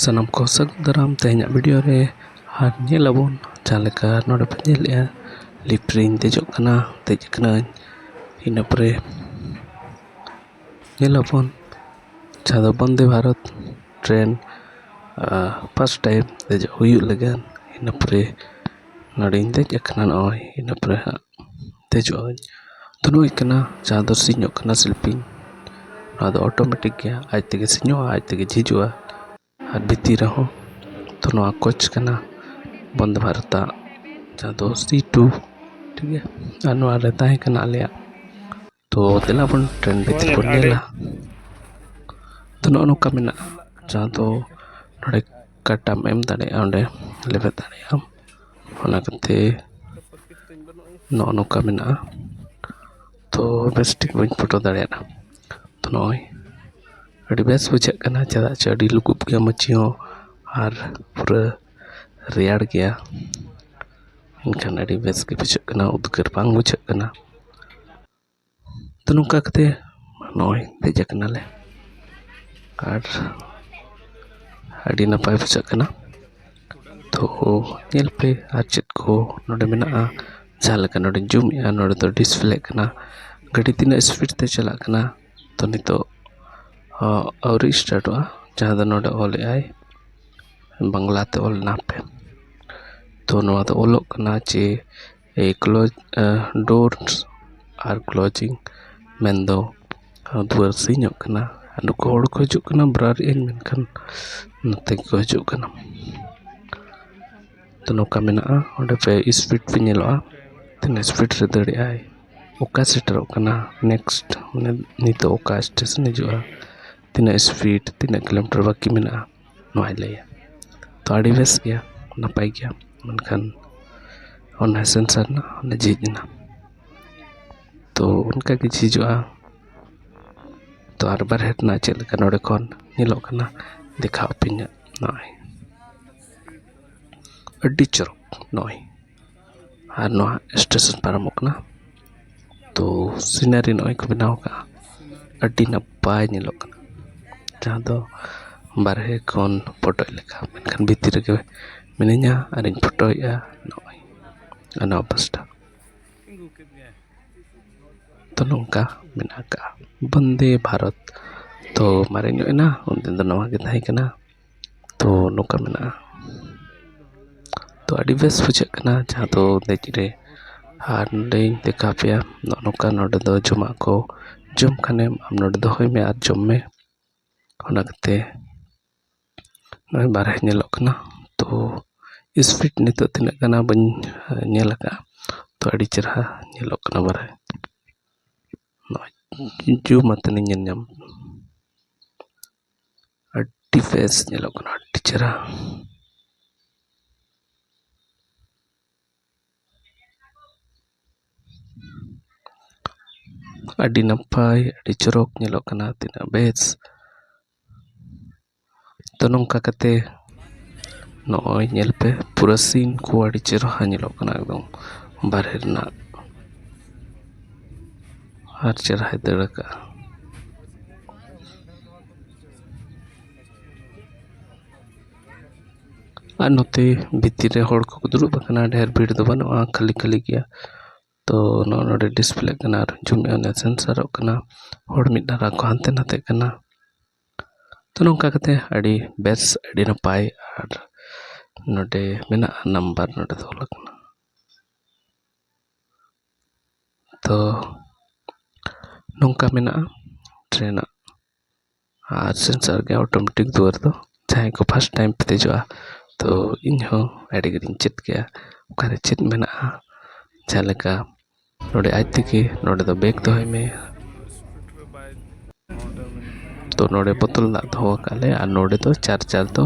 ᱥᱟᱱᱟᱢ ᱠᱚ ᱥᱟᱹᱜᱩᱱ ᱫᱟᱨᱟᱢ ᱛᱮᱦᱮᱧᱟᱜ ᱵᱷᱤᱰᱤᱭᱳ ᱨᱮ ᱟᱨ ᱧᱮᱞ ᱟᱵᱚᱱ ᱡᱟᱦᱟᱸ ᱞᱮᱠᱟ ᱱᱚᱰᱮ ᱵᱚᱱ ᱧᱮᱞᱮᱜᱼᱟ ᱞᱤᱯᱷᱴ ᱨᱤᱧ ᱫᱮᱡᱚᱜ ᱠᱟᱱᱟ ᱫᱮᱡ ᱠᱟᱹᱱᱟᱹᱧ ᱤᱱᱟᱹ ᱯᱚᱨᱮ ᱧᱮᱞ ᱟᱵᱚᱱ ᱡᱟᱦᱟᱸ ᱫᱚ Vande Bharat train fast time ᱫᱮᱡᱚᱜ ᱦᱩᱭᱩᱜ ᱞᱟᱹᱜᱤᱫ ᱤᱱᱟᱹ ᱯᱚᱨᱮ ᱱᱚᱰᱮᱧ ᱫᱮᱡ ᱟᱠᱟᱱᱟ ᱱᱚᱜᱼᱚᱭ ᱤᱱᱟᱹ ᱯᱚᱨᱮ ᱦᱟᱸᱜ ᱫᱮᱡᱚᱜ ᱟᱹᱧ ᱫᱩᱲᱩᱵ ᱦᱩᱭ ᱠᱟᱱᱟ ᱡᱟᱦᱟᱸ ᱫᱚ ᱥᱤᱧᱚᱜ ᱠᱟᱱᱟ ᱥᱤᱞᱯᱤᱧ ᱟᱫᱚ ᱚᱴᱳᱢᱮᱴᱤᱠ ᱜᱮ ᱟᱡ ᱛᱮᱜᱮ ᱥᱤᱧᱚᱜᱼᱟ ᱟᱡ ᱛᱮᱜᱮ ᱡᱷᱤᱡᱚᱜᱼᱟ ᱟᱨ ᱵᱷᱤᱛᱤᱨ ᱨᱮᱦᱚᱸ ᱛᱚ ᱱᱚᱣᱟ ᱠᱳᱪ ᱠᱟᱱᱟ ᱵᱚᱱᱫᱮ ᱵᱷᱟᱨᱚᱛ ᱟᱜ ᱡᱟᱦᱟᱸ ᱫᱚ ᱥᱤ ᱴᱩ ᱴᱷᱤᱠ ᱜᱮᱭᱟ ᱟᱨ ᱱᱚᱣᱟᱨᱮ ᱛᱟᱦᱮᱸ ᱠᱟᱱᱟ ᱟᱞᱮᱭᱟᱜ ᱛᱚ ᱫᱮᱞᱟ ᱵᱚᱱ ᱴᱨᱮᱱ ᱵᱷᱤᱛᱨᱤ ᱵᱚᱱ ᱧᱮᱞᱟ ᱛᱚ ᱱᱚᱜᱼᱚ ᱱᱚᱝᱠᱟ ᱢᱮᱱᱟᱜᱼᱟ ᱡᱟᱦᱟᱸ ᱫᱚ ᱱᱚᱰᱮ ᱠᱟᱴᱟᱢ ᱮᱢ ᱫᱟᱲᱮᱭᱟᱜᱼᱟ ᱚᱸᱰᱮ ᱞᱮᱵᱮᱫ ᱫᱟᱲᱮᱭᱟᱜ ᱟᱢ ᱚᱱᱟ ᱠᱟᱛᱮ ᱱᱚᱜᱼᱚ ᱱᱚᱝᱠᱟ ᱢᱮᱱᱟᱜᱼᱟ ᱛᱚ ᱵᱮᱥ ᱴᱷᱤᱠ ᱵᱟᱹᱧ ᱯᱷᱳᱴᱳ ᱫᱟᱲᱮᱭᱟᱫᱟ ᱛᱚ ᱱᱚᱜᱼᱚᱭ ᱟᱹᱰᱤ ᱵᱮᱥ ᱵᱩᱡᱷᱟᱹᱜ ᱠᱟᱱᱟ ᱪᱮᱫᱟᱜ ᱪᱮ ᱟᱹᱰᱤ ᱞᱩᱜᱩᱵ ᱜᱮᱭᱟ ᱢᱟᱹᱪᱤ ᱦᱚᱸ ᱟᱨ ᱯᱩᱨᱟᱹ ᱨᱮᱭᱟᱲ ᱜᱮᱭᱟ ᱮᱱᱠᱷᱟᱱ ᱟᱹᱰᱤ ᱵᱮᱥ ᱜᱮ ᱵᱩᱡᱷᱟᱹᱜ ᱠᱟᱱᱟ ᱩᱫᱽᱜᱟᱹᱨ ᱵᱟᱝ ᱵᱩᱡᱷᱟᱹᱜ ᱠᱟᱱᱟ ᱛᱚ ᱱᱚᱝᱠᱟ ᱠᱟᱛᱮ ᱱᱚᱜᱼᱚᱭ ᱫᱮᱡ ᱠᱟᱱᱟᱞᱮ ᱟᱨ ᱟᱹᱰᱤ ᱱᱟᱯᱟᱭ ᱵᱩᱡᱷᱟᱹᱜ ᱠᱟᱱᱟ ᱛᱚ ᱧᱮᱞ ᱯᱮ ᱟᱨ ᱪᱮᱫ ᱠᱚ ᱱᱚᱰᱮ ᱢᱮᱱᱟᱜᱼᱟ ᱡᱟᱦᱟᱸ ᱞᱮᱠᱟ ᱱᱚᱰᱮᱧ ᱡᱩᱢ ᱮᱜᱼᱟ ᱱᱚᱰᱮ ᱫᱚ ᱰᱤᱥᱯᱞᱮᱜ ᱠᱟᱱᱟ ᱜᱟᱹᱰᱤ ᱛᱤᱱᱟᱹᱜ ᱤᱥᱯᱤᱰ ᱛᱮ ᱪᱟᱞᱟᱜ ᱠᱟᱱᱟ ᱛᱚ ᱱᱤᱛᱚᱜ ᱟᱹᱣᱨᱤ ᱥᱴᱟᱨᱴᱚᱜᱼᱟ ᱡᱟᱦᱟᱸ ᱫᱚ ᱱᱚᱰᱮ ᱚᱞᱮᱜ ᱟᱭ ᱵᱟᱝᱞᱟ ᱛᱮ ᱚᱞ ᱢᱮᱱᱟᱜ ᱛᱮ ᱛᱚ ᱱᱚᱣᱟ ᱫᱚ ᱚᱞᱚᱜ ᱠᱟᱱᱟ ᱡᱮ ᱮ ᱠᱞᱳᱡᱽ ᱰᱳᱨ ᱟᱨ ᱠᱞᱳᱡᱤᱝ ᱢᱮᱱ ᱫᱚ ᱫᱩᱣᱟᱹᱨ ᱥᱤᱧᱚᱜ ᱠᱟᱱᱟ ᱟᱨ ᱱᱩᱠᱩ ᱦᱚᱲ ᱠᱚ ᱦᱤᱡᱩᱜ ᱠᱟᱱᱟ ᱵᱨᱟᱨ ᱤᱱ ᱢᱮᱱᱠᱷᱟᱱ ᱱᱚᱛᱮ ᱠᱚ ᱦᱤᱡᱩᱜ ᱠᱟᱱᱟ ᱛᱚ ᱱᱚᱝᱠᱟ ᱢᱮᱱᱟᱜᱼᱟ ᱚᱸᱰᱮ ᱯᱮ ᱤᱥᱯᱤᱰ ᱯᱮ ᱧᱮᱞᱚᱜᱼᱟ ᱛᱤᱱᱟᱹᱜ ᱤᱥᱯᱤᱰ ᱨᱮ ᱫᱟᱹᱲᱮᱜ ᱟᱭ ᱚᱠᱟ ᱥᱮᱴᱮᱨᱚᱜ ᱠᱟᱱᱟ ᱱᱮᱠᱥᱴ ᱢᱟᱱᱮ ᱱᱤᱛᱚᱜ ᱚᱠᱟ ᱥᱴᱮᱥᱚᱱ ᱦᱤᱡᱩᱜᱼᱟ ᱛᱤᱱᱟᱹᱜ ᱤᱥᱯᱤᱰ ᱛᱤᱱᱟᱹᱜ ᱠᱤᱞᱳᱢᱤᱴᱟᱨ ᱵᱟᱹᱠᱤ ᱢᱮᱱᱟᱜᱼᱟ ᱱᱚᱣᱟᱭ ᱞᱟᱹᱭᱟ ᱛᱚ ᱟᱹᱰᱤ ᱵᱮᱥ ᱜᱮᱭᱟ ᱱᱟᱯᱟᱭ ᱜᱮᱭᱟ ᱢᱮᱱᱠᱷᱟᱱ ᱚᱱᱟ ᱥᱮᱱᱥᱟᱨ ᱨᱮᱱᱟᱜ ᱚᱱᱟ ᱡᱷᱤᱡ ᱮᱱᱟ ᱛᱚ ᱚᱱᱠᱟ ᱜᱮ ᱡᱷᱤᱡᱚᱜᱼᱟ ᱛᱚ ᱟᱨ ᱵᱟᱦᱨᱮ ᱨᱮᱱᱟᱜ ᱪᱮᱫ ᱞᱮᱠᱟ ᱱᱚᱰᱮ ᱠᱷᱚᱱ ᱧᱮᱞᱚᱜ ᱠᱟᱱᱟ ᱫᱮᱠᱷᱟᱣ ᱟᱹᱯᱮᱭᱟᱹᱧ ᱦᱟᱸᱜ ᱱᱚᱜᱼᱚᱸᱭ ᱟᱹᱰᱤ ᱪᱚᱨᱚᱠ ᱱᱚᱜᱼᱚᱸᱭ ᱟᱨ ᱱᱚᱣᱟ ᱥᱴᱮᱥᱚᱱ ᱯᱟᱨᱚᱢᱚᱜ ᱠᱟᱱᱟ ᱛᱚ ᱥᱤᱱᱟᱨᱤ ᱱᱚᱜᱼᱚᱸᱭ ᱠᱚ ᱵᱮᱱᱟᱣ ᱠᱟᱜᱼᱟ ᱟᱹᱰᱤ ᱱᱟᱯᱟᱭ ᱧᱮᱞᱚᱜ ᱠᱟᱱᱟ ᱡᱟᱦᱟᱸ ᱫᱚ ᱵᱟᱦᱨᱮ ᱠᱷᱚᱱ ᱯᱷᱳᱴᱳᱜ ᱞᱮᱠᱟ ᱢᱮᱱᱠᱷᱟᱱ ᱵᱷᱤᱛᱨᱤ ᱨᱮᱜᱮ ᱢᱤᱱᱟᱹᱧᱟ ᱟᱨᱤᱧ ᱯᱷᱳᱴᱳᱭᱮᱜᱼᱟ ᱱᱚᱜᱼᱚᱸᱭ ᱚᱱᱟ ᱚᱵᱚᱥᱛᱷᱟ ᱛᱚ ᱱᱚᱝᱠᱟ ᱢᱮᱱᱟᱜ ᱠᱟᱜᱼᱟ ᱵᱚᱱᱫᱮ ᱵᱷᱟᱨᱚᱛ ᱛᱚ ᱢᱟᱨᱮ ᱧᱚᱜ ᱮᱱᱟ ᱩᱱᱫᱤᱱ ᱫᱚ ᱱᱚᱣᱟᱜᱮ ᱛᱟᱦᱮᱸ ᱠᱟᱱᱟ ᱛᱚ ᱱᱚᱝᱠᱟ ᱢᱮᱱᱟᱜᱼᱟ ᱛᱚ ᱟᱹᱰᱤ ᱵᱮᱥ ᱵᱩᱡᱷᱟᱹᱜ ᱠᱟᱱᱟ ᱡᱟᱦᱟᱸ ᱫᱚ ᱫᱮᱡ ᱨᱮ ᱟᱨ ᱱᱚᱰᱮᱧ ᱫᱮᱠᱷᱟᱣ ᱯᱮᱭᱟ ᱱᱚᱜᱼᱚ ᱱᱚᱝᱠᱟ ᱱᱚᱰᱮ ᱫᱚ ᱡᱚᱢᱟᱜ ᱠᱚ ᱡᱚᱢ ᱠᱷᱟᱱᱮᱢ ᱟᱢ ᱱᱚᱰᱮ ᱫᱚᱦᱚᱭ ᱢᱮ ᱟᱨ ᱡᱚᱢ ᱢᱮ ᱚᱱᱟ ᱠᱟᱛᱮ ᱱᱚᱜᱼᱚᱭ ᱵᱟᱦᱨᱮ ᱧᱮᱞᱚᱜ ᱠᱟᱱᱟ ᱛᱚ ᱤᱥᱯᱤᱰ ᱱᱤᱛᱚᱜ ᱛᱤᱱᱟᱹᱜ ᱠᱟᱱᱟ ᱵᱟᱹᱧ ᱧᱮᱞ ᱠᱟᱜᱼᱟ ᱛᱚ ᱟᱹᱰᱤ ᱪᱮᱦᱨᱟ ᱧᱮᱞᱚᱜ ᱠᱟᱱᱟ ᱵᱟᱦᱨᱮ ᱱᱚᱜᱼᱚᱭ ᱡᱩᱢ ᱟᱛᱮᱱᱤᱧ ᱧᱮᱞ ᱧᱟᱢ ᱟᱹᱰᱤ ᱵᱮᱥ ᱧᱮᱞᱚᱜ ᱠᱟᱱᱟ ᱟᱹᱰᱤ ᱪᱮᱦᱨᱟ ᱟᱹᱰᱤ ᱱᱟᱯᱟᱭ ᱟᱹᱰᱤ ᱪᱚᱨᱚᱠ ᱧᱮᱞᱚᱜ ᱠᱟᱱᱟ ᱛᱤᱱᱟᱹᱜ ᱵᱮᱥ ᱛᱚ ᱱᱚᱝᱠᱟ ᱠᱟᱛᱮ ᱱᱚᱜᱼᱚᱭ ᱧᱮᱞ ᱯᱮ ᱯᱩᱨᱟᱹ ᱥᱤᱱ ᱠᱚ ᱟᱹᱰᱤ ᱪᱮᱦᱨᱟ ᱧᱮᱞᱚᱜ ᱠᱟᱱᱟ ᱮᱠᱫᱚᱢ ᱵᱟᱦᱨᱮ ᱨᱮᱱᱟᱜ ᱟᱨ ᱪᱮᱦᱨᱟᱭ ᱫᱟᱹᱲ ᱠᱟᱜᱼᱟ ᱟᱨ ᱱᱚᱛᱮ ᱵᱷᱤᱛᱤᱨ ᱨᱮ ᱦᱚᱲ ᱠᱚᱠᱚ ᱫᱩᱲᱩᱵ ᱟᱠᱟᱱᱟ ᱰᱷᱮᱨ ᱵᱷᱤᱲ ᱫᱚ ᱵᱟᱹᱱᱩᱜᱼᱟ ᱠᱷᱟᱹᱞᱤ ᱠᱷᱟᱹᱞᱤ ᱜᱮᱭᱟ ᱛᱚ ᱱᱚᱜᱼᱚ ᱱᱚᱸᱰᱮ ᱰᱤᱥᱯᱞᱮᱜ ᱠᱟᱱᱟ ᱟᱨ ᱡᱩᱢᱤᱱ ᱟᱱ ᱥᱮᱱᱥᱟᱨᱚᱜ ᱠᱟᱱᱟ ᱦᱚᱲ ᱢᱤᱫ ᱫᱷᱟᱨᱮ ᱠᱚ ᱦᱟᱱᱛᱮ ᱱᱟᱛᱮᱜ ᱠᱟᱱᱟ ᱛᱚ ᱱᱚᱝᱠᱟ ᱠᱟᱛᱮ ᱟᱹᱰᱤ ᱵᱮᱥ ᱟᱹᱰᱤ ᱱᱟᱯᱟᱭ ᱟᱨ ᱱᱚᱸᱰᱮ ᱢᱮᱱᱟᱜᱼᱟ ᱱᱟᱢᱵᱟᱨ ᱱᱚᱸᱰᱮ ᱫᱚᱦᱚ ᱟᱠᱟᱱᱟ ᱛᱚ ᱱᱚᱝᱠᱟ ᱢᱮᱱᱟᱜᱼᱟ ᱴᱨᱮᱹᱱ ᱟᱜ ᱟᱨ ᱥᱮᱱᱥᱟᱨ ᱜᱮ ᱚᱴᱳᱢᱮᱴᱤᱠ ᱫᱩᱣᱟᱹᱨ ᱫᱚ ᱡᱟᱦᱟᱸᱭ ᱠᱚ ᱯᱷᱟᱥᱴ ᱴᱟᱭᱤᱢ ᱯᱮ ᱫᱮᱡᱚᱜᱼᱟ ᱛᱚ ᱤᱧ ᱦᱚᱸ ᱟᱹᱰᱤ ᱜᱟᱱᱤᱧ ᱪᱮᱫ ᱠᱮᱜᱼᱟ ᱚᱠᱟᱨᱮ ᱪᱮᱫ ᱢᱮᱱᱟᱜᱼᱟ ᱡᱟᱦᱟᱸ ᱞᱮᱠᱟ ᱱᱚᱰᱮ ᱟᱡ ᱛᱮᱜᱮ ᱱᱚᱰᱮ ᱫᱚ ᱵᱮᱜᱽ ᱫᱚᱦᱚᱭ ᱢᱮ ᱛᱚ ᱱᱚᱰᱮ ᱵᱳᱛᱚᱞ ᱫᱟᱜ ᱫᱚᱦᱚ ᱟᱠᱟᱫ ᱞᱮ ᱟᱨ ᱱᱚᱰᱮ ᱫᱚ ᱪᱟᱨᱡᱟᱨ ᱫᱚ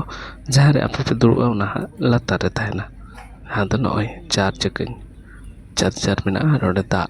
ᱡᱟᱦᱟᱸ ᱨᱮ ᱟᱯᱮ ᱯᱮ ᱫᱩᱲᱩᱵᱼᱟ ᱚᱱᱟ ᱦᱟᱸᱜ ᱞᱟᱛᱟᱨ ᱨᱮ ᱛᱟᱦᱮᱱᱟ ᱟᱫᱚ ᱱᱚᱜᱼᱚᱭ ᱪᱟᱨᱡᱽ ᱟᱠᱟᱫᱟᱹᱧ ᱪᱟᱨᱡᱟᱨ ᱢᱮᱱᱟᱜᱼᱟ ᱱᱚᱰᱮ ᱫᱟᱜ